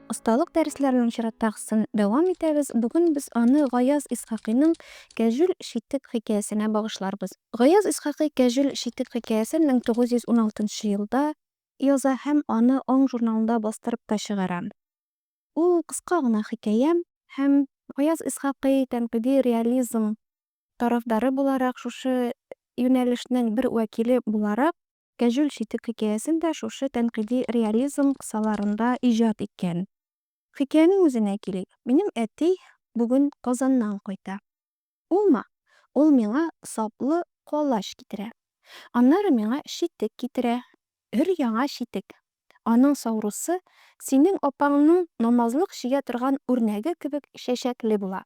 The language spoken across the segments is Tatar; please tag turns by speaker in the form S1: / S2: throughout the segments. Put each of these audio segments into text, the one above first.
S1: Осталык дәресләренең чираттагысын дәвам итәбез. Бүген без аны Гаяз Исхакыйның Кәҗүл читек хикәясенә багышларбыз. Гаяз Исхакый Кәҗүл читек хикәясен 1916 елда яза һәм аны Аң журналында бастырып та чыгара. Ул кыска гына хикәя һәм Гаяз Исхакый тәнкыйди реализм тарафдары буларак, шушы юнәлешнең бер вәкиле буларак, Кәҗүл читек хикәясен дә шушы тәнкыйди реализм кысаларында иҗат иткән. Хикәянең үзенә килик. Минем әти бүген Казаннан кайта. Улмы? Ул миңа саплы колач китерә. Аннары миңа читек китерә. Өр-яңа читек. Аның саурусы синең апаңның намазлык чигә торган үрнәге кебек чәчәкле була.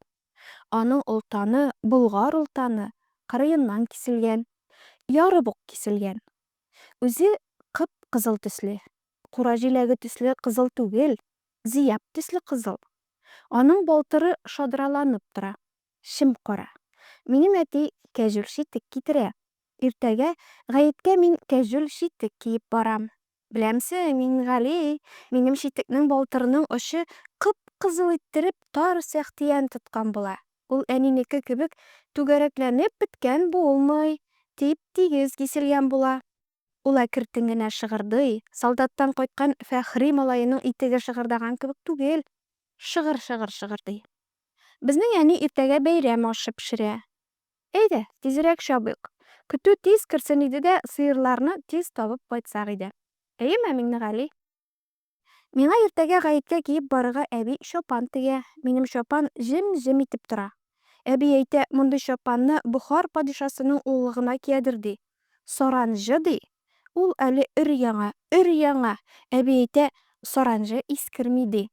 S1: Аның олтаны болгар олтаны кырыеннан киселгән, ярып ук киселгән. Үзе кып-кызыл төсле. Кура җиләге төсле кызыл түгел, зияб төсле кызыл. Аның балтыры шадраланып тора. чем-кара. Минем әти кәҗүл читек китерә. Иртәгә гаеткә мин кәҗүл читек киеп барам. Беләмсең, Миңгали, минем читекнең балтырының очы кып-кызыл иттереп тар сәхтиян тоткан була. Ул әнинеке кебек түгәрәкләнеп беткән булмый, тип-тигез киселгән була. Ул әкертен генә шыгырдый, солдаттан кайткан Фәхри малаеның итеге шыгырдаган кебек түгел, шыгыр-шыгыр шыгырдый. Безнең әни иртәгә бәйрәм ашы пешерә. Әйдә, тизрәк чабыйк. Көтү тиз керсен иде дә, сыерларны тиз табып кайтсак иде. Әйеме, Миңнегали? Миңа иртәгә гаеткә киеп барырга әби чапан тегә. Минем чапан җем-җем итеп тора. Әби әйтә, мондый чапанны Бохар падишасының улы гына киядер, ди. Саранҗы, ди. Ул әле өр-яңа, өр-яңа. Әби әйтә, саранҗы искерми, ди.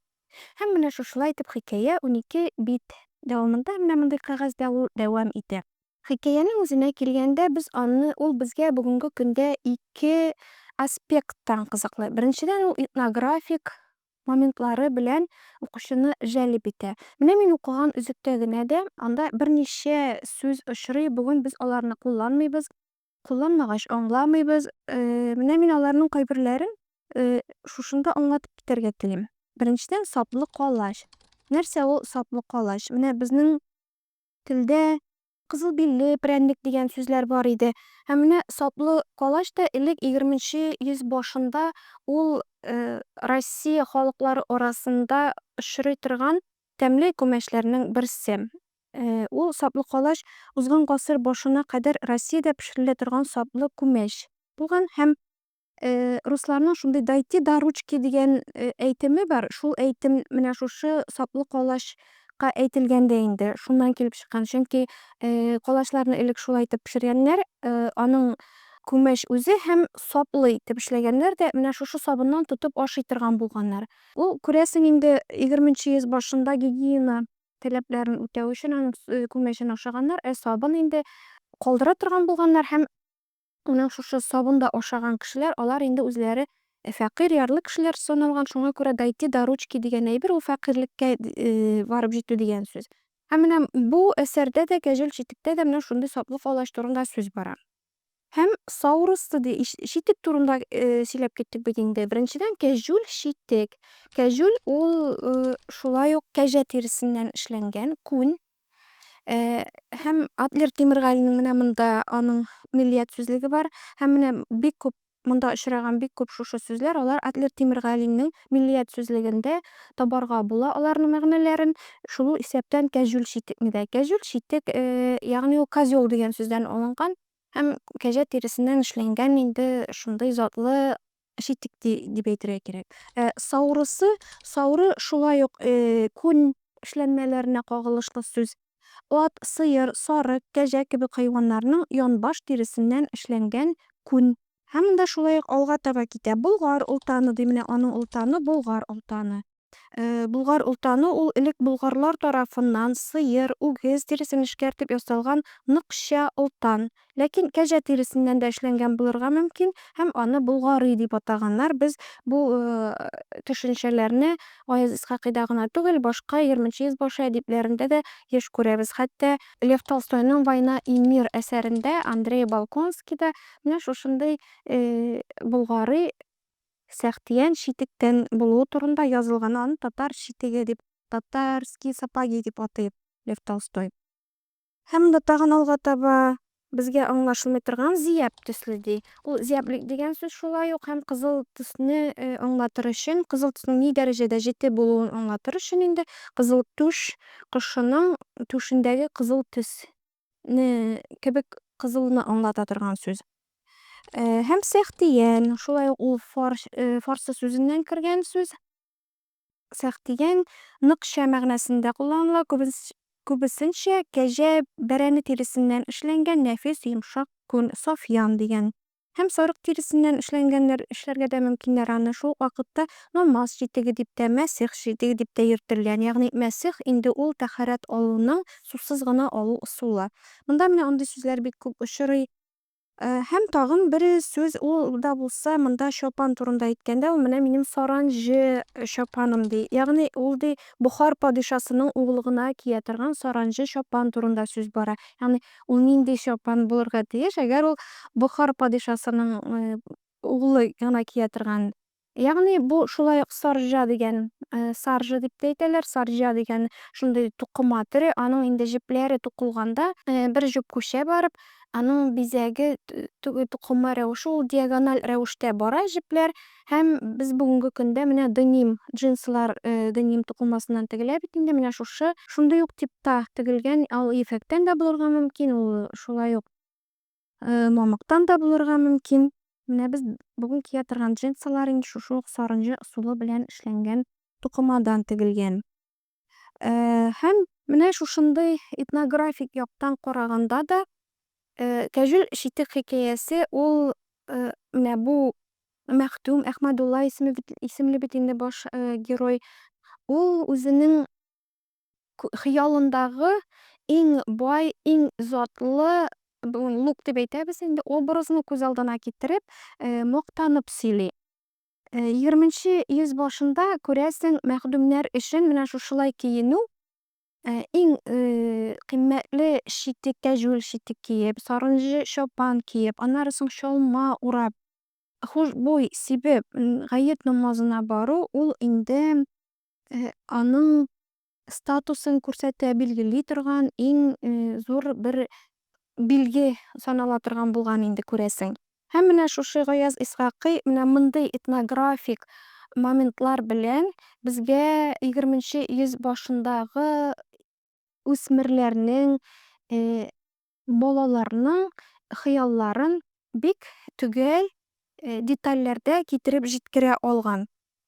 S1: Һәм менә шушылай итеп хикәя унике бит дәвамында менә мондый кәгазьдә ул дәвам итә. Хикәянең үзенә килгәндә, без аны, ул безгә бүгенге көндә ике аспекттан кызыклы. Беренчедән, ул этнографик моментлары белән укучыны җәлеп итә. Менә мин укыган өзектә генә дә анда берничә сүз очрый, бүген без аларны кулланмыйбыз. Кулланмагач аңламыйбыз. Менә мин аларның кайберләрен шушында аңлатып китәргә телим. Беренчедән, саплы калач. Нәрсә ул саплы калач? Менә безнең телдә кызыл билле прәннек дигән сүзләр бар иде. Ә менә саплы калач та элек егерменче йөз башында ул Россия халыклары арасында очрый торган тәмле күмәчләрнең берсе. Ул, саплы калач, узган гасыр башына кадәр Россиядә пешерелә торган саплы күмәч булган һәм русларның шундый дайте да ручки дигән әйтеме бар, шул әйтем менә шушы саплы калач ка әйтелгән дә инде, шуннан килеп чыккан, чөнки калачларны элек шулай итеп пешергәннәр, аның күмәч үзе һәм саплы итеп эшләгәннәр дә менә шушы сабыннан тотып ашый торган булганнар. Ул, күрәсең, инде егерменче йөз башында гигиена таләпләрен үтәү өчен аның күмәчен ашаганнар, ә сабын инде калдыра торган булганнар һәм аның шушы сабын да ашаган кешеләр, алар инде үзләре фәкыйрь, ярлы кешеләр саналган, шуңа күрә дойти до ручки дигән әйбер ул фәкыйрьлеккә барып җитү дигән сүз. Һәм менә бу әсәрдә дә, Кәҗүл читектә дә менә шундый саплы калач турында сүз бара. Һәм саурысты ди, читек турында сөйләп киттек бит инде. Беренчедән, кәҗүл читек. Кәҗүл ул шулай ук кәҗә тиресеннән эшләнгән, күн. Һәм Адлер Тимергалинең менә монда аның миллият сүзлеге бар. Һәм менә бик күп Монда очраган бик күп шушы сүзләр, алар Адлер Тимергалинең Миллият сүзлегендә табарга була аларның мәгънәләрен, шул исәптән кәҗүл читекне дә. Кәҗүл читек, ягъни ул козел дигән сүздән алынган. Һәм кәҗә тиресеннән эшләнгән инде шундый затлы читек дип әйтергә кирәк. Ә саурысы, сауры шулай ук күн эшләнмәләренә кагылышлы сүз. Ат, сыер, сарык, кәҗә кебек хайваннарның янбаш тиресеннән эшләнгән күн. Һәм монда шулай ук алга таба китә. Болгар олтаны ди, менә аның олтаны, Болгар олтаны. Болгар олтаны ул элек болгарлар тарафыннан сыер, үгез тиресен эшкәртеп ясалган ныкча олтан, Ләкин кәҗә тиресеннән дә эшләнгән булырга мөмкин һәм аны Болгарый дип атаганнар. Без бу төшенчәләрне Гаяз Исхакыйда гына түгел, башка Ерменче йөзбашы әдипләрендә дә еш күрәбез. Хәтта Лев Толстойның Война и мир әсәрендә Андрей Балконский да менә шушындый Болгарый сәхтиян читектән булуы турында язылган. Аны татар читеге дип, татарские сапоги дип атый Лев Толстой. Һәм монда тагын алга таба безгә аңлашылмый торган зияб төсле ди. Ул зияблек дигән сүз шулай ук һәм кызыл төсне э, аңлатыр өчен, кызыл төснең ни дәрәҗәдә җете булуын аңлатыр өчен инде кызыл түш кошының түшендәге кызыл төсне кебек кызылны аңлата торган сүз. Э, һәм сәхтиян, шулай ук ул э, фарсы сүзеннән кергән сүз. Сәх дигән ныкча мәгънәсендә кулланыла, күбесенчә кәҗә, бәрәне тиресеннән эшләнгән нәфис, йомшак күн, сафьян дигән. Һәм сарык тиресеннән эшләнгәннәр эшләргә дә мөмкиннәр аны. Шул ук вакытта намаз читеге дип тә, мәсих читеге дип тә йөртелгән. Ягъни мәсих инде ул тәһарәт алуның сусыз гына алу ысулы. Монда менә андый сүзләр бик күп очрый. Һәм тагын бер сүз, ул да булса, монда чапан турында әйткәндә, ул менә минем саранҗы чапаным, ди. Ягъни ул, ди, Бохар падишасының углы гына кия торган саранҗы чапан турында сүз бара. Ягъни ул нинди чапан булырга тиеш, әгәр ул Бохар падишасының углы гына кия торган Ягъни бу шулай ук саржа дигән, саржа дип тә әйтәләр, саржа дигән шундый тукыма төре, аның инде җепләре тукылганда, бер җеп күчә барып, аның бизәге, тукыма рәвеше ул диагональ рәвештә бара җепләр һәм без бүгенге көндә менә деним, джинслар деним тукымасыннан тегелә бит инде, менә шушы, шундый ук типта тегелгән, ул ефәктән дә булырга мөмкин, ул шулай ук. Мамыктан да булырга мөмкин. Менә без бүген кия торган джинсылар инде шушы ук сарынҗы ысулы белән эшләнгән тукымадан тегелгән. Һәм менә шушындый этнографик яктан караганда да Кәҗүл читек хикәясе ул менә бу Мәхтүм Әхмәдулла исемле бит инде баш герой. Ул үзенең хыялындагы иң бай, иң затлы, бүген лук дип әйтәбез инде, образны күз алдына китереп, мактанып сөйли. Егерменче йөз башында, күрәсең, мәхдүмнәр өчен менә шушылай киенү Э, иң э, кыйммәтле читек, кәҗүл читек киеп, сарынҗы чапан киеп, аннары соң чалма урап, хушбуй сибеп, гает намазына бару ул инде Э, аның статусын күрсәтә, билгели торган иң э, зур бер билге санала торган булган инде күрәсең. Һәм менә шушы Гаяз Исхакый менә мондый этнографик моментлар белән безгә 20 йөз башындагы үсмерләрнең э, Балаларның хыялларын бик төгәл детальләрдә китереп җиткерә алган.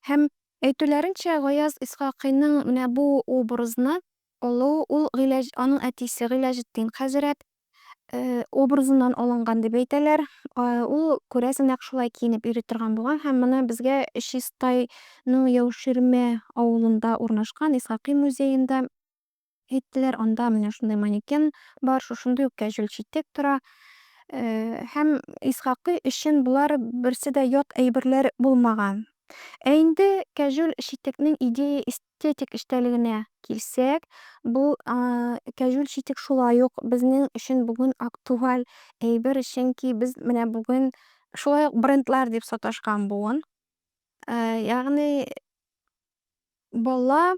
S1: Һәм, әйтүләренчә, Гаяз Исхакыйның менә бу образны алуы ул Гыйләҗ, аның әтисе Гыйләҗетдин хәзрәт образыннан алынган дип әйтәләр. Ул, күрәсең, нәкъ шулай киенеп йөри торган булган һәм моны безгә Чистайның Яуширмә авылында урнашкан Исхакый музеенда, Әйттеләр, анда менә шундый манекен бар, шушындый ук кәҗүл читек тора. Һәм Исхакый өчен болар берсе дә ят әйберләр булмаган. Ә инде кәҗүл читекнең идея-эстетик эчтәлегенә килсәк, бу кәҗүл читек шулай ук безнең өчен бүген актуаль әйбер, чөнки без менә бүген шулай ук брендлар дип саташкан буын. Ягъни бала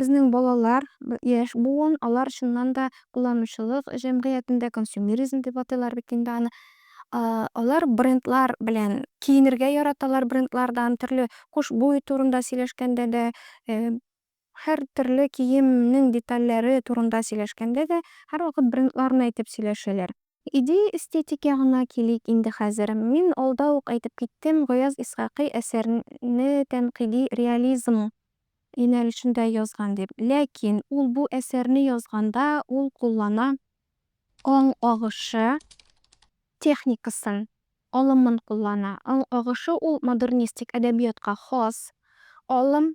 S1: Безнең балалар, яшь буын, алар чыннан да кулланучылык җәмгыятендә, консюмеризм дип атыйлар бит инде аны, алар брендлар белән киенергә яраталар, брендлардан төрле хушбуй турында сөйләшкәндә дә, һәр төрле киемнең детальләре турында сөйләшкәндә дә һәрвакыт брендларны әйтеп сөйләшәләр. Идея-эстетикә гына килик инде хәзер. Мин алда ук әйтеп киттем, Гаяз Исхакый әсәрне тәнкыйди реализм юнәлешендә язган дип. Ләкин ул бу әсәрне язганда ул куллана аң агышы техникасын, алымын куллана. Аң агышы ул модернистик әдәбиятка хас алым.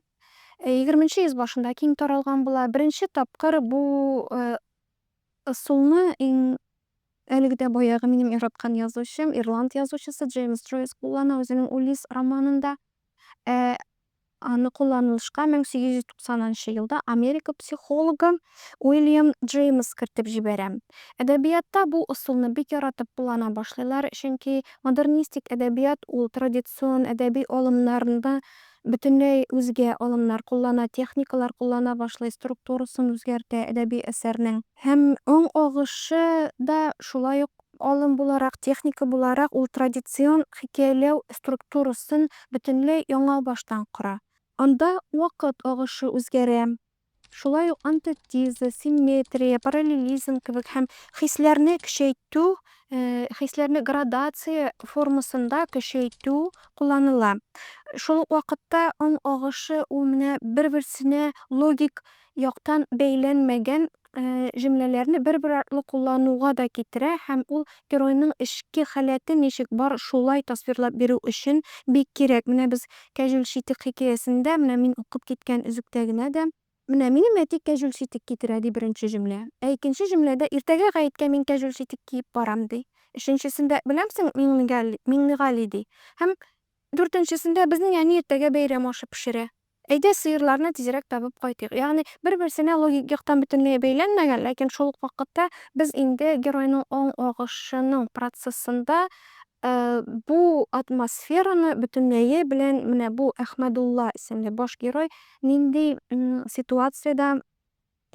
S1: Егерменче йөз башында киң таралган була. Беренче тапкыр бу Ысулны иң әлеге дә баягы минем яраткан язучым, ирланд язучысы Джеймс Джойс куллана үзенең Улисс романында. Ә аны кулланылышка 1890 нчы елда Америка психологы Уильям Джеймс кертеп җибәрә. Әдәбиятта бу ысулны бик яратып куллана башлыйлар, чөнки модернистик әдәбият ул традицион әдәби алымнарны Бөтенләй үзгә алымнар куллана, техникалар куллана башлый, структурасын үзгәртә әдәби әсәрнең. Һәм уң агышы да шулай ук алым буларак, техника буларак ул традицион хикәяләү структурасын бөтенләй яңа баштан кора. Анда вакыт агышы үзгәрә, Шулай ук антетиза, симметрия, параллелизм кебек һәм хисләрне көчәйтү, хисләрне градация формасында көчәйтү кулланыла. Шул ук вакытта аң агышы ул менә бер-берсенә логик яктан бәйләнмәгән җөмләләрне бер-бер артлы куллануга да китерә һәм ул геройның эчке халәте ничек бар шулай тасвирлап бирү өчен бик кирәк. Менә без Кәҗүл читек хикәясендә менә мин укып киткән өзектә генә дә, Менә минем әти кәҗүл читек китерә, ди беренче җөмлә. Ә икенче җөмләдә, Иртәгә гаеткә мин кәҗүл читек киеп барам, ди. Өченчесендә, Беләмсең, Миңнегали, Миңнегали, ди. Һәм дүртенчесендә, Безнең әни иртәгә бәйрәм ашы пешерә. Әйдә, сыерларны тизрәк табып кайтыйк. Ягъни бер-берсенә логик яктан бөтенләй бәйләнмәгән, ләкин шул ук вакытта без инде геройның аң агышының процессында, Бу атмосфераны бөтенләе белән менә бу Әхмәдулла исемле баш герой нинди ситуациядә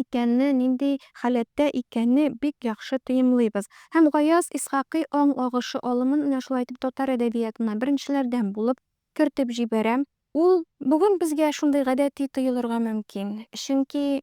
S1: икәнне, нинди халәттә икәнне бик яхшы тоемлыйбыз. Һәм Гаяз Исхакый аң агышы алымын менә шулай итеп татар әдәбиятына беренчеләрдән булып кертеп җибәрә. Ул бүген безгә шундый гадәти тоелырга мөмкин, чөнки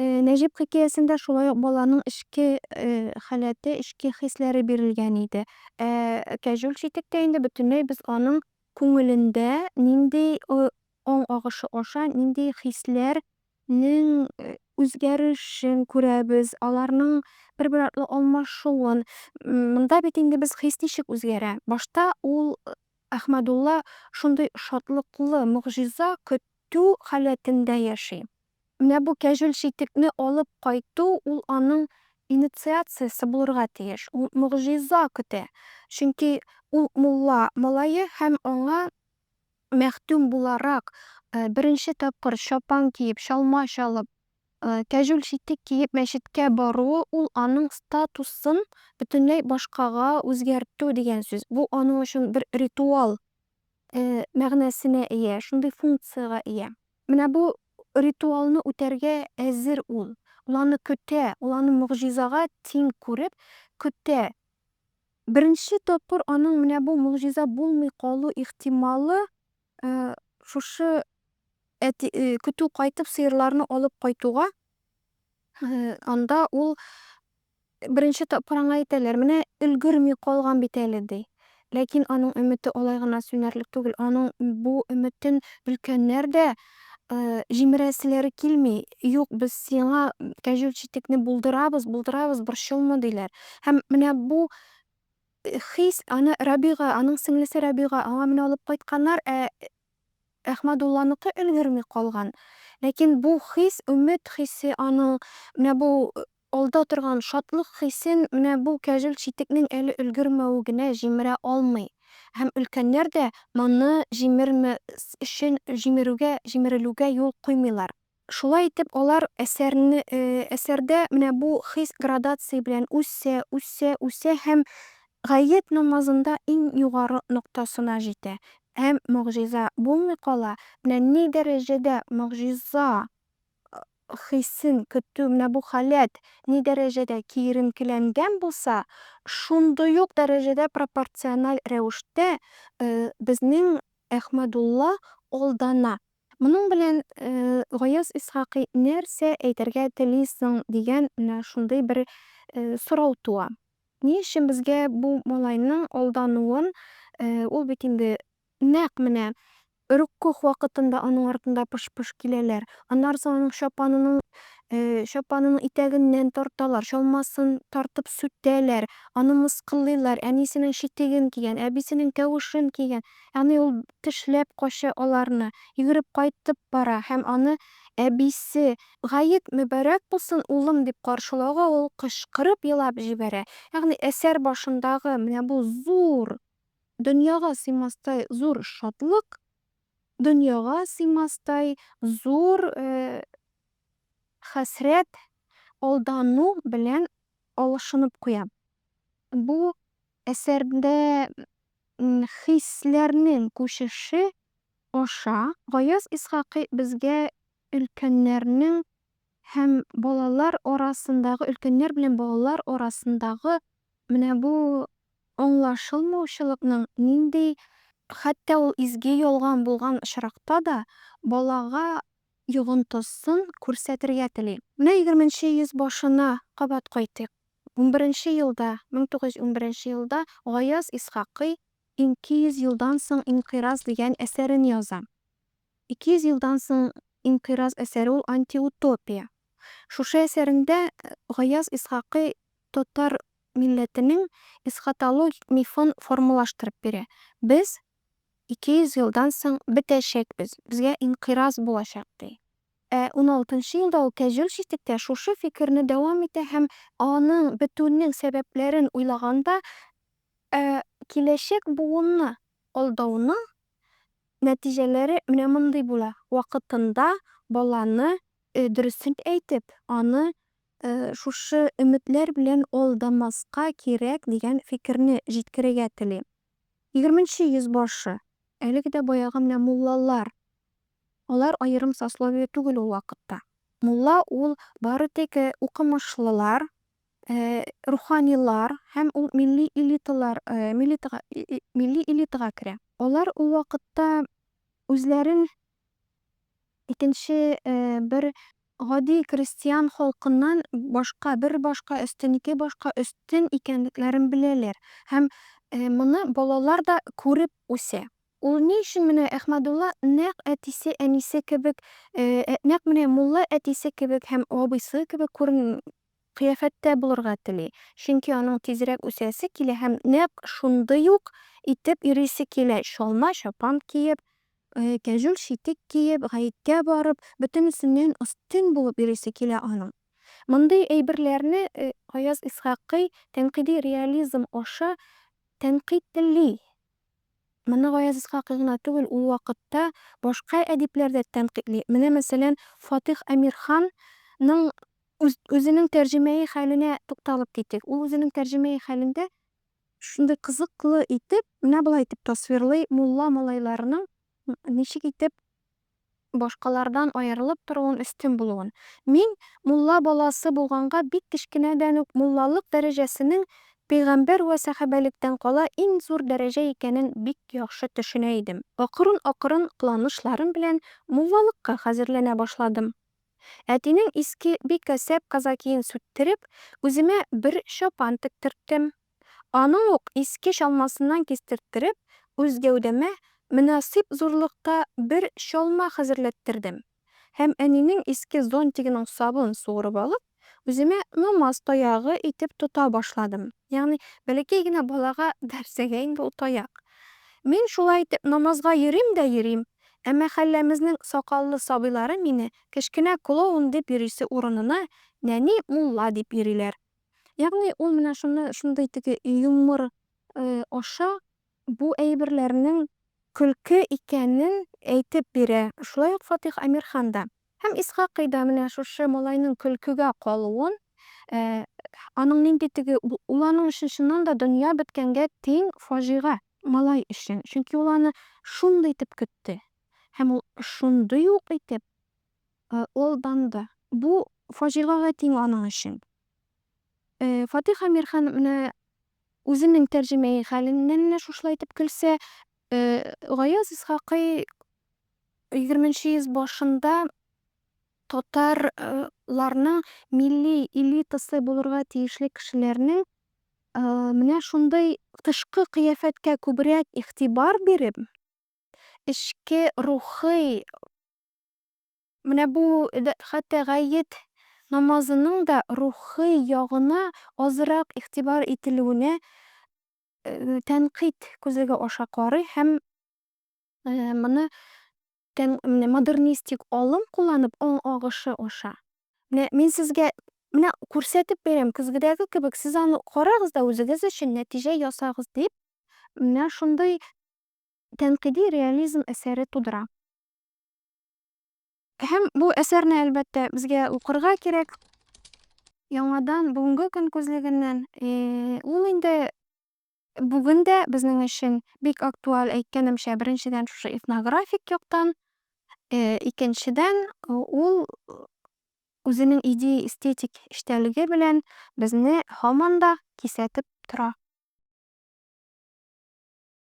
S1: Нәҗип хикәясендә шулай ук баланың эчке халәте, эчке хисләре бирелгән иде. Ә Кәҗүл читектә инде бөтенләй без аның күңелендә нинди аң агышы аша нинди хисләр нең үзгәрешен күрәбез, аларның бер-бер артлы алмашуын. Монда бит инде без хис ничек үзгәрә? Башта ул Әхмәдулла шундый шатлыклы, могҗиза көтү халәтендә яши. Менә бу кәҗүл читекне алып кайту, ул аның инициациясе булырга тиеш. Ул могҗиза көтә. Чөнки ул мулла малае һәм аңа мәхдүм буларак, беренче тапкыр чапан киеп, чалма чалып, кәҗүл читек киеп мәчеткә баруы, ул аның статусын бөтенләй башкага үзгәртү дигән сүз. Бу аның өчен бер ритуал. мәгънәсенә ия, шундый функциягә ия. Менә бу ритуалны үтәргә әзер ул. Ул аны көтә, ул аны могҗизага тиң күреп көтә. Беренче тапкыр аның менә бу могҗиза булмый калу ихтималы шушы әти, көтү кайтып сыерларны алып кайтуга Анда ул беренче тапкыр аңа әйтәләр, менә өлгерми калган бит әле, ди. Ләкин аның өмете алай гына сүнәрлек түгел. Аның бу өметен өлкәннәр дә җимерәселәре килми. Юк, без сиңа кәҗүл читекне булдырабыз, булдырабыз, борчылма, диләр. Һәм менә бу хис аны Рабига, аның сеңлесе Рабига, аңа менә алып кайтканнар, ә Әхмәдулланыкы өлгерми калган. Ләкин бу хис, өмет хисе аның, менә бу алда торган шатлык хисен менә бу кәҗүл читекнең әле өлгермәве генә җимерә алмый. Һәм өлкәннәр дә моны җимермәс өчен җимерүгә, җимерелүгә юл куймыйлар. Шулай итеп, алар әсәрне, әсәрдә менә бу хис градация белән үсә, үсә, үсә һәм гает намазында иң югары ноктасына җитә. Һәм могҗиза булмый кала. Менә ни дәрәҗәдә могҗиза хисен көтү, менә бу халәт ни дәрәҗәдә киеренкеләнгән булса, шундый ук дәрәҗәдә пропорциональ рәвештә безнең Әхмәдулла алдана. Моның белән Гаяз Исхакый нәрсә әйтергә тели соң дигән менә шундый бер сорау туа. Ни өчен безгә бу малайның алдануын, ул бит инде нәкъ менә рөккугъ вакытында аның артында пыш-пыш киләләр, аннары соң аның чапанының чапанының итәгеннән тарталар, чалмасын тартып сүтәләр, аны мыскыллыйлар, әнисенең читеген кигән, әбисенең кәвешен кигән, Ягъни ул тешләп кача аларны, йөгереп кайтып бара һәм аны әбисе, Гает мөбарәк булсын, улым, дип каршылауга ул кычкырып елап җибәрә. Ягъни әсәр башындагы менә бу зур, дөньяга сыймастай зур шатлык, дөньяга сыймастай зур хәсрәт, алдану белән алышынып куя. Бу әсәрдә Хисләрнең күчеше аша Гаяз Исхакый безгә өлкәннәрнең һәм балалар арасындагы, өлкәннәр белән балалар арасындагы менә бу аңлашылмаучылыкның нинди, хәтта ул изге ялган булган очракта да, балага йогынтысын күрсәтергә тели. Менә егерменче йөз башына кабат кайтыйк. Унберенче елда, 1911 елда Гаяз Исхакый Ике йөз елдан соң инкыйраз дигән әсәрен яза. Ике йөз елдан соң инкыйраз әсәре ул антиутопия. Шушы әсәрендә Гаяз Исхакый татар милләтенең эсхатологик мифын формалаштырып бирә, Без ике йөз елдан соң бетәчәкбез, безгә инкыйраз булачак, ди. Ә уналтынчы елда ул кәҗүл читектә шушы фикерне дәвам итә һәм аның бетүенең сәбәпләрен уйлаганда, ә киләчәк буынны алдауның нәтиҗәләре менә мондый була, вакытында баланы дөресен әйтеп, аны шушы өметләр белән алдамаска кирәк дигән фикерне җиткерергә тели. Егерменче йөз башы, әлеге дә баягы менә муллалар Алар аерым сословие түгел ул вакытта. Мулла ул бары тик укымышлылар, руханилар һәм ул милли элиталар, милли элитага керә. Алар ул вакытта үзләрен икенче бер гади крестьян халкыннан башка, бер башка өстен, ике башка өстен икәнлекләрен беләләр һәм моны балалар да күреп үсә. Ул ни өчен менә Әхмәдулла нәкъ әтисе, әнисе кебек, нәкъ менә мулла әтисе кебек һәм абыйсы кебек күрен, кыяфәттә булырга тели? Чөнки аның тизрәк үсәсе килә һәм нәкъ шундый ук итеп йөрисе килә, чалма чапан киеп, кәҗүл читек киеп, гаеткә барып, бөтенесеннән өстен булып йөрисе килә аның. Мондый әйберләрне Гаяз Исхакый тәнкыйди реализм аша тәнкыйтьли. Моны Гаяз Исхакый гына түгел, ул вакытта башка әдипләр дә тәнкыйтьли. Менә, мәсәлән, Фатыйх Әмирхан ның үз үзенең тәрҗемәи хәленә тукталып китик. Ул үзенең тәрҗемәи хәлендә шундый кызыклы итеп, менә болай итеп тасвирлый мулла малайларының ничек итеп башкалардан аерылып торуын, өстен булуын. Мин, мулла баласы булганга, бик кечкенәдән үк муллалык дәрәҗәсенең пәйгамбәр вә сәхабәлектән кала иң зур дәрәҗә икәнен бик яхшы төшенә идем. Акрын-акрын кыланышларым белән муллалыкка хәзерләнә башладым. Әтинең иске бик әсәп казакиен сүттереп, үземә бер чапан тектерттем. Аны ук иске чалмасыннан кистерттереп, үз гәүдәмә мөнасыйп зурлыкта бер чалма хәзерләттердем һәм әнинең иске зонтигының сабын суырып алып, үземә намаз таягы итеп тота башладым. Ягъни, бәләкәй генә балага нәрсәгә инде ул таяк? Мин шулай итеп намазга йөрим дә йөрим, ә мәхәлләмезнең сакаллы сабыйлары мине кечкенә клоун дип йөрисе урынына, нәни мулла дип йөриләр. Ягъни ул менә шуны шундый теге юмор аша бу әйберләрнең көлке икәнен әйтеп бирә. Шулай ук Фатыйх Әмирхан да һәм Исхакый да менә шушы малайның көлкегә калуын, аның нинди теге ул аның өчен чыннан да дөнья беткәнгә тиң фаҗига малай өчен, чөнки ул аны шундый итеп көтте һәм ул шундый ук итеп Ул данлы. Бу фаҗигагә тиң аның өчен. Фатыйх Әмир хан менә үзенең тәрҗемәи хәленнән менә шушылай итеп көлсә, Гаяз Исхакый егерменче йөз башында татар ларның милли элитасы булырга тиешле кешеләрнең менә шундый тышкы кыяфәткә күбрәк игътибар биреп, эчке рухый Менә бу хәтта гает намазының да рухи ягына азрак игътибар ителүенә тәнкыйть күзлеге аша карый һәм моны модернистик алым кулланып, аң агышы аша. Менә мин сезгә менә күрсәтеп бирәм, көзгедәге кебек, сез аны карагыз да үзегез өчен нәтиҗә ясагыз, дип, менә шундый тәнкыйди реализм әсәре тудыра. Һәм бу әсәрне, әлбәттә, безгә укырга кирәк. Яңадан бүгенге көн күзлегеннән ул инде бүген дә безнең өчен бик актуаль, әйткәнемчә, беренчедән шушы этнографик яктан, икенчедән ул үзенең идея эстетик эчтәлеге белән безне һаман да кисәтеп тора.